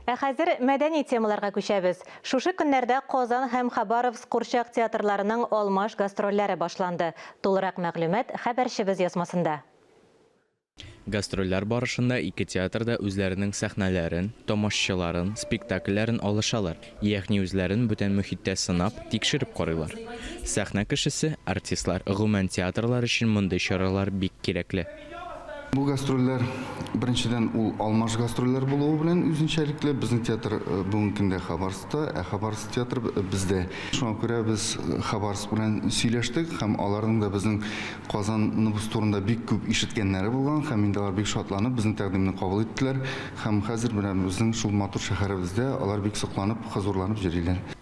Ә хәзер мәдәни темаларга күчәбез. Шушы көннәрдә Казан һәм Хабаровск курчак театрларының алмаш гастрольләре башланды. Тулырак мәгълүмат хәбәрчебез язмасында. Гастрольләр барышында ике театр да үзләренең сәхнәләрен, тамашчыларын, спектакльләрен алышалар, ягъни үзләрен бүтән мөхиттә сынап, тикшереп карыйлар. Сәхнә кешесе, артистлар, гомумән театрлар өчен мондый чаралар бик кирәкле. Бу гастрольләр, беренчедән, ул алмаш гастрольләр булуы белән үзенчәлекле. Безнең театр бүгенге көндә Хабаровскта, ә Хабаровск театры бездә. Шуңа күрә без Хабаровск белән сөйләштек һәм аларның да безнең Казаныбыз турында бик күп ишеткәннәре булган һәм инде алар бик шатланып безнең тәкъдимне кабул иттеләр һәм хәзер менә безнең шул матур шәһәребездә алар бик сокланып, хозурланып йөриләр.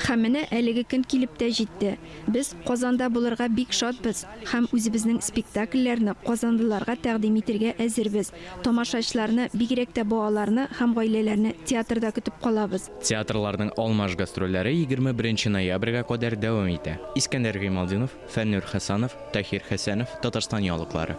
Һәм менә әлеге көн килеп тә җитте. Без Казанда булырга бик шатбыз һәм үзебезнең спектакльләрне казанлыларга тәкъдим итергә әзербез. Тамашачларны, бигрәк тә балаларны һәм гаиләләрне театрда көтеп калабыз. Театрларның алмаш гастрольләре егерме беренче ноябрьгә кадәр дәвам итә. Искәндәр Гыймалтдинов, Фәннүр Хәсанов, Таһир Хәсәнов, Татарстан яулыклары.